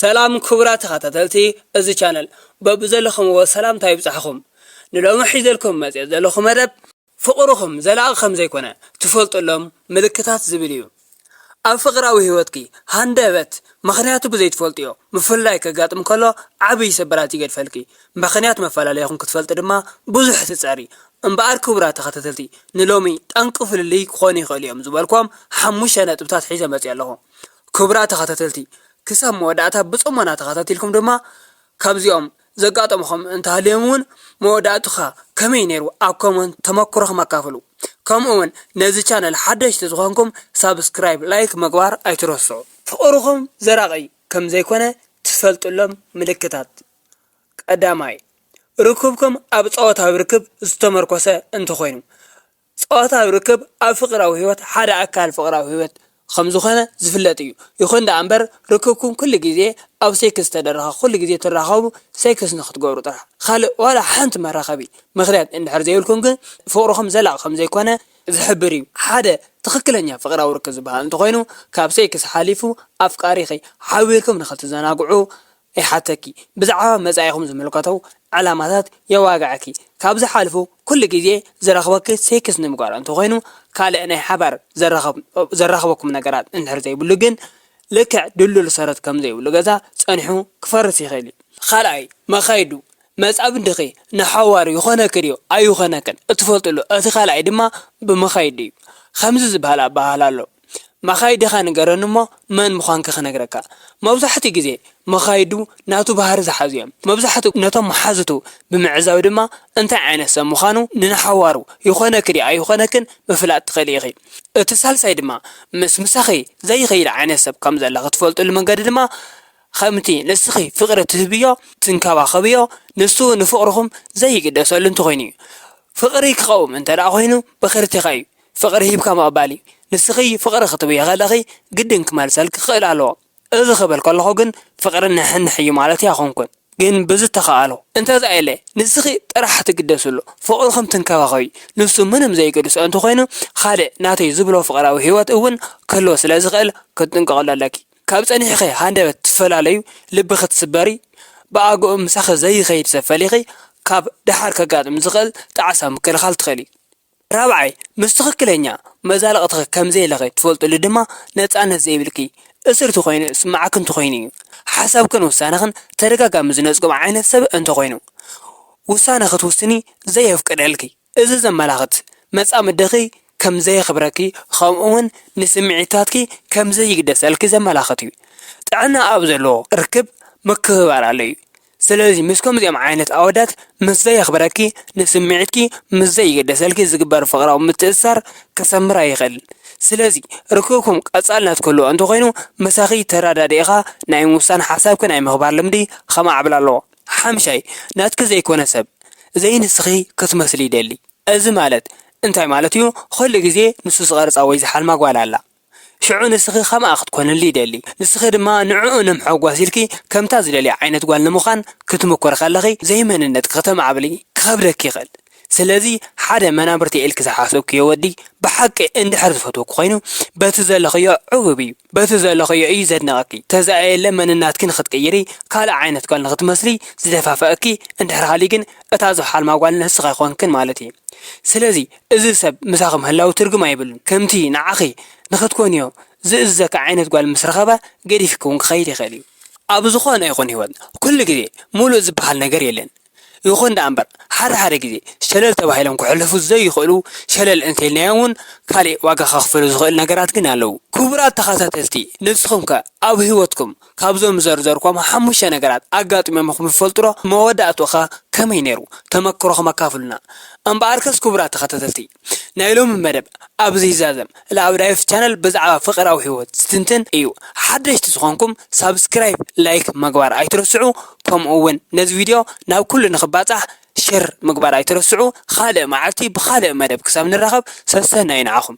ሰላም ክቡራት ተኸታተልቲ እዚ ቻነል በብዘለኹምዎ ሰላምታ ይብጻሕኹም ንሎሚ ሒዘልኩም መጺኤ ዘለኹ መደብ ፍቕርኹም ዘላቒ ከምዘይኮነ ትፈልጥሎም ምልክታት ዝብል እዩ ኣብ ፍቕራዊ ሂወትኪ ሃንደበት ምኽንያቱ ብዘይትፈልጥዮ ምፍልላይ ከጋጥም ከሎ ዓብይ ስብራት ይገድፈልኪ ምኽንያት መፈላለይኹም ክትፈልጢ ድማ ብዙሕ ትጸሪ እምበኣር ክቡራት ተኸታተልቲ ንሎሚ ጠንቂ ፍልልይ ክኾኑ ይኽእሉ እዮም ዝበልክዎም ሓሙሽተ ነጥብታት ሒዘ መጺኤ ኣለኹ ክቡራት ተኸታተልቲ ክሳብ መወዳእታ ብጽሞና ተኸታቲልኩም ድማ ካብዚኦም ዘጋጠምኹም እንተሃልዮም ውን መወዳእትኻ ከመይ ነይሩ ኣብ ኮመንት ተመኩሮኹም ኣካፍሉ ከምኡ ውን ነዚ ቻነል ሓደሽቲ ዝኾንኩም ሳብስክራይብ ላይክ ምግባር ኣይትረስዑ ፍቕርኹም ዘራቒ ከም ዘይኮነ ትፈልጥሎም ምልክታት ቀዳማይ ርክብኩም ኣብ ጸወታዊ ርክብ ዝተመርኮሰ እንተኾይኑ ጾታዊ ርክብ ኣብ ፍቕራዊ ህይወት ሓደ ኣካል ፍቕራዊ ህይወት ኸም ዝዀነ ዝፍለጥ እዩ። ይኹን ደኣ እምበር፣ ርክብኩም ኵሉ ግዜ ኣብ ሴክስ ዝተደረኸ፣ ኵሉ ግዜ ትራኸቡ፣ ሴክስ ንኽትገብሩ ጥራሕ፣ ኻልእ ዋላ ሓንቲ መራኸቢ ምኽንያት እንድሕር ዘይብልኩም ግን ፍቕርኹም ዘላቒ ኸም ዘይኰነ ዝሕብር እዩ። ሓደ ትኽክለኛ ፍቕራዊ ርክብ ዝበሃል እንተ ዀይኑ፣ ካብ ሴክስ ሓሊፉ ኣፍቃሪኺ ሓቢርኩም ንኽትዘናግዑ ይሓተኪ ብዛዕባ መጻኢኹም ዝምልከቶ ዕላማታት የዋግዐኪ ካብዚ ሓልፉ ኩሉ ግዜ ዝረኽበኪ ሴክስ ንምግባር እንተኾይኑ ካልእ ናይ ሓባር ዘራኽበኩም ነገራት እንድሕር ዘይብሉ ግን ልክዕ ድልዱል ሰረት ከምዘይብሉ ገዛ ጸኒሑ ክፈርስ ይኽእል እዩ። ካልኣይ መኻይዱ መጻምድኺ ንሓዋሩ ይኾነኪ ድዩ ኣይኾነክን እትፈልጥሉ እቲ ካልኣይ ድማ ብመኻይዱ እዩ። ከምዚ ዝበሃል ኣበሃህላ ኣሎ። መኻይድኻ ንገረኒ እሞ መን ምዃንካ ክነግረካ። መብዛሕትኡ ግዜ መኻይዱ ናቱ ባህሪ ዝሓዙ እዮም። መብዛሕትኡ ነቶም መሓዙቱ ብምዕዛብ ድማ እንታይ ዓይነት ሰብ ምዃኑ ንንሓዋሩ ይኾነኪ ድዩ ኣይኾነክን ምፍላጥ ትኽእሊ ኢኺ። እቲ ሳልሳይ ድማ ምስ ምሳኺ ዘይኸይድ ዓይነት ሰብ ከም ዘለኺ ትፈልጥሉ መንገዲ ድማ ከምቲ ንስኺ ፍቕሪ ትህብዮ ትንከባኸብዮ ንሱ ንፍቕርኹም ዘይግደሰሉ እንተኾይኑ እዩ። ፍቕሪ ክቐውም እንተድኣ ኮይኑ ብኽርቲኻ እዩ። ፍቕሪ ሂብካ ምቕባል እዩ። ንስኺ ፍቕሪ ክትብዪ ከለኺ ግድን ክመልሰልኪ ክኽእል ኣለዎ። እዚ ክብል ከለኹ ግን ፍቕሪ ንሕንሕ እዩ ማለተይ ኣይኮንኩን። ግን ብዝተኻእሎ። እንተዘየለ ንስኺ ጥራሕ ትግደስሉ፣ ፍቕርኹም ትንከባኸብዩ። ንሱ ምንም ዘይገድሶ እንተኾይኑ ካልእ ናተይ ዝብሎ ፍቕራዊ ህይወት እውን ክህልዎ ስለ ዝኽእል ክትጥንቀቕሉ ኣለኪ። ካብ ጸኒሕኺ ሃንደበት ትፈላለዩ፣ ልቢ ክትስበሪ፣ ብኣግኡ ምሳኺ ዘይኸይድ ሰብ ፈሊኺ ካብ ደሓር ከጋጥም ዝኽእል ጣዕሳ ምክልኻል ትኽእሊ። ራብዓይ፣ ምስ ትኽክለኛ መዛልቕትኺ ከም ዘይለኺ ትፈልጥሉ ድማ ነጻነት ዘይብልኪ እስርቲ ኮይኑ ዝስምዓኪ እንተኾይኑ እዩ። ሓሳብክን ውሳነኽን ተደጋጋሚ ዝነጽጎ ዓይነት ሰብ እንተኾይኑ፣ ውሳነ ክትውስኒ ዘየፍቅደልኪ፣ እዚ ዘመላኽት መጻምድኺ ከም ዘየኽብረኪ ከምኡ'ውን ንስምዒታትኪ ከም ዘይግደሰልኪ ዘመላኽት እዩ። ጥዕና ኣብ ዘለዎ ርክብ ምክብባር ኣሎ እዩ። ስለዚ ምስ ከምዚኦም ዓይነት ኣወዳት ምስ ዘየኽብረኪ፣ ንስምዒትኪ ምስ ዘይግደሰልኪ ዝግበር ፍቕራዊ ምትእስሳር ክሰምር ኣይኽእልን። ስለዚ ርክብኩም ቀጻልነት ክህልዎ እንተኾይኑ ምሳኺ ተረዳዲእኻ ናይ ምውሳን ሓሳብኪ ናይ ምኽባር ልምዲ ከማዕብል ኣለዎ። ሓምሻይ፣ ናትኪ ዘይኮነ ሰብ፣ ዘይንስኺ ክትመስሊ ይደሊ። እዚ ማለት እንታይ ማለት'ዩ? ኹሉ ግዜ ንሱ ዝቐርጻ ወይ ዝሓልማ ጓል ኣላ። ሽዑ ንስኺ ኸምኣ ኽትኰንሉ ይደሊ። ንስኺ ድማ ንዕኡ ንምሐጓስ ኢልኪ ከምታ ዝደልያ ዓይነት ጓል ንምዃን ክትምኩሪ ኸለኺ ዘይመንነትኪ ኽተማዕብሊ ኪኸብደኪ ይኽእል። ስለዚ ሓደ መናብርተይ ኢልኪ ዝሓሰብክዮ ወዲ ብሓቂ እንድሕር ዝፈትወኪ ዀይኑ በቲ ዘለኽዮ ዕቡብ እዩ። በቲ ዘለኽዮ እዩ ዘድንቐኪ። ተዛኣየለ መንናትኪ ንኽትቅይሪ ካልእ ዓይነት ጓል ንኽትመስሊ ዝደፋፍኣኪ እንድሕር ሃልዩ ግን እታ ዝሓልማ ጓል ንስኺ ኣይኰንክን ማለት እዩ። ስለዚ እዚ ሰብ ምሳኺ ምህላዉ ትርግም ኣይብሉን፣ ከምቲ ንዓኺ ንኽትኮንዮ ዝእዝዘኪ ዓይነት ጓል ምስ ረኸበ ገዲፍኪ ውን ክኸይድ ይኽእል እዩ። ኣብ ዝኾነ ይኹን ህይወት ኩሉ ግዜ ሙሉእ ዝበሃል ነገር የለን፣ ይኹን ደኣ እምበር ሓደ ሓደ ግዜ ሸለል ተባሂሎም ክሕለፉ ዘይኽእሉ ሸለል እንተኢልናዮም ውን ካሊእ ዋጋ ከኽፍሉ ዝኽእሉ ነገራት ግን ኣለዉ። ክቡራት ተኻታተልቲ ንስኹም ከ ኣብ ህይወትኩም ካብዞም ዝዘርዘርክዎም ሓሙሽተ ነገራት ኣጋጢሞምኹም ዝፈልጡ'ዶ? መወዳእትኡ'ኸ ከመይ ነይሩ? ተመክሮኹም ኣካፍሉና። እምበኣርከስ ክቡራት ተኸታተልቲ ናይ ሎሚ መደብ ኣብዚ ይዛዘም። ላኣብዳይፍ ቻነል ብዛዕባ ፍቅራዊ ሂወት ዝትንትን እዩ። ሓደሽቲ ዝኾንኩም ሳብስክራይብ ላይክ ምግባር ኣይትረስዑ ከምኡ ውን ነዚ ቪድዮ ናብ ኩሉ ንኽባጻሕ ሸር ምግባር ኣይትረስዑ። ኻልእ መዓልቲ ብኻልእ መደብ ክሳብ ንራኸብ ሰሰናዩ ንዓኹም።